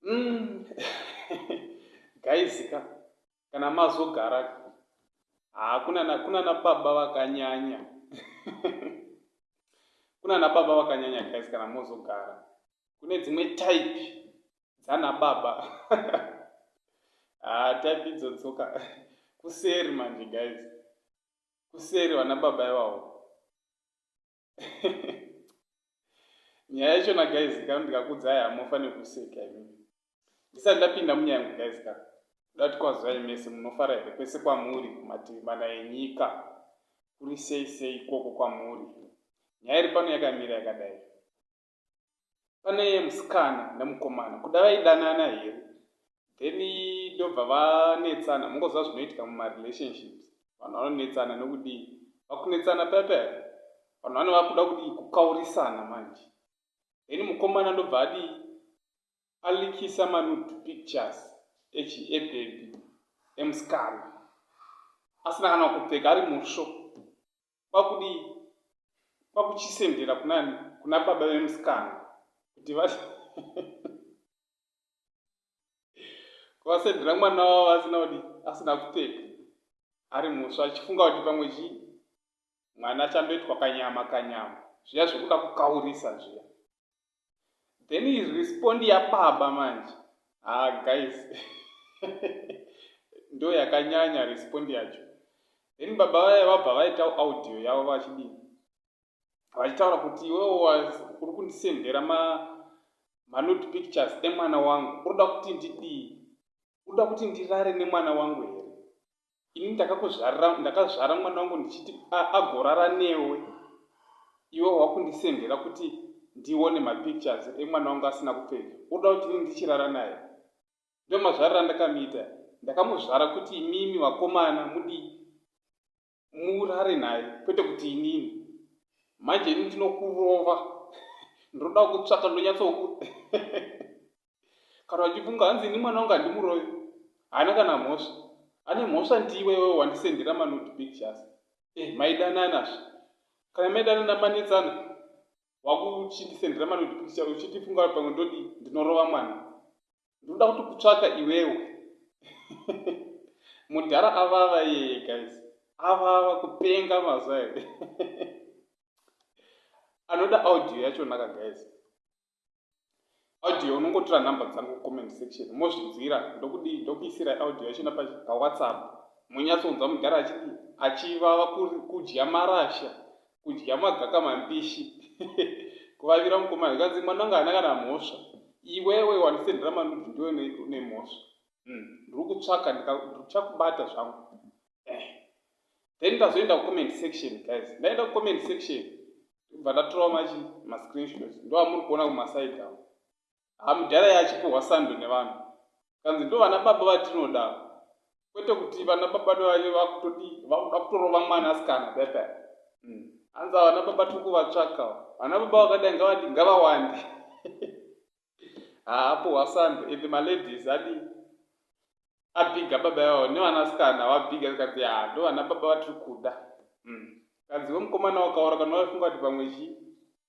Mm. gaizika kana mazogara haa kunana kunana baba vakanyanya kunana baba vakanyanya guys kana mozogara kune dzimwe type dzana baba haa ah, type idzo dzoka kuseri manje guys kuseri vana baba ivawo nyaya yachona guys ka ndikakudzai hamofa nekuseka imi ndisati ndapinda munyaya yangu guys ka kuda kuti kwazivai mese munofara here kwese kwamuri kumativi mana enyika kuri sei sei ikoko kwamuri nyaya iri pano yakamira yakadai pane musikana nemukomana kuda vaidanana here then ndobva vanetsana mungoziva zvinoitika mumarelationships vanhu vanonetsana nokudii vakunetsana pepe vanhu vane vakuda kudii kukaurisana manje then mukomana ndobva adii alikisa manud pictures echi ebebi emusikana asina kana kupfeka ari musvo kwakudii kwakuchisendera kunani kuna baba vemusikana kuti va vasendera mwana wavo asina kudi asina kupfeka ari muswa achifunga kuti pamwe chi mwana achandoitwa kanyama kanyama zviya zvekuda kukaurisa zviya Then is respond yababa manje haa guys ndo yakanyanya respond yacho then baba vaya vabva vaita audio yavo vachidini vachitaura kuti iwewo uri kundisendera ma manut pictures emwana wangu unoda kuti ndidii unoda kuti ndirare nemwana wangu here ini ndakakuzvarira ndakazvara mwana wangu ndichiti agorara newe iwe wakundisendera kuti ndione mapictures emwana wangu asina kupfeka unoda kuti ini ndichirara naye ndo mazvarira ndakamiita ndakamuzvara kuti imimi vakomana mudi murare naye kwete kuti inini manje ini ndinokurova ndinoda kutsvaka ndonyatso kana uchifunga hanzi ini mwana wangu handimuroyi haana kana mhosva ane mhosva ndiwe iwewe wandisendera manudi pictures e eh, maidananazve kana maidanana manetsana wakuchindisendera manudi picture uchitifunga pamwe ndodi ndinorova mwana ndinoda kuti kutsvaka iwewe mudhara avava yeye guys avava kupenga mazuva here anoda audio yachonaka guys audio unongotora number dzangu comment section mozvinzwira ndokudii ndokuisirai audio yachona pawhatsapp monyatsonzwa mudhara achidii achivava kudya marasha kudya magaka mambishi kuvavira mukomana ikanzi mwana anga ana kana mhosva iwewe wandisendera manudzi ndiwe nemhosva hmm, ndiri kutsvaka ndikuchakubata zvangu eh. then ndazoenda kucomment section guys ndaenda kucomment section ndobva ndatorawo machi mascreenshots ndoamuri kuona kumaside avo hamudhara yachipuhwa sando nevanhu kanzi ndo vana baba vatinoda kwete kuti vana baba ndovanye vakutodi vakuda kutorova mwana asikana pepe hmm. hanzi vana baba tiri kuvatsvaka vana baba vakadai ngavawande haapo hwasando and maladies adii abhiga baba ivavo nevanasikana vabhiga zvikanzi yaa ndo vana baba vatiri kuda mm. kanzi we mukomana wakaora kana waifunga kuti pamwe chii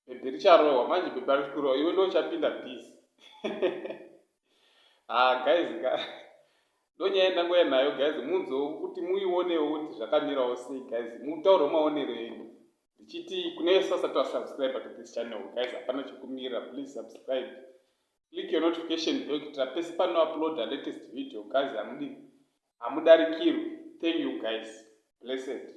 bhebhi richarohwa manje bhebhi ari kurohwa iwe ndo uchapinda busy haa ah, guys ka ndonyaya ndangoya nayo guys munzoo kuti muionewo kuti zvakamirawo sei guys mutaure maonero enyu ndichiti kune vese vasati vasubscribe to this channel guys hapana chekumirira please subscribe click your notification bell kuitira pese pano upload a latest video guys hamudi hamudarikirwi thank you guys blessed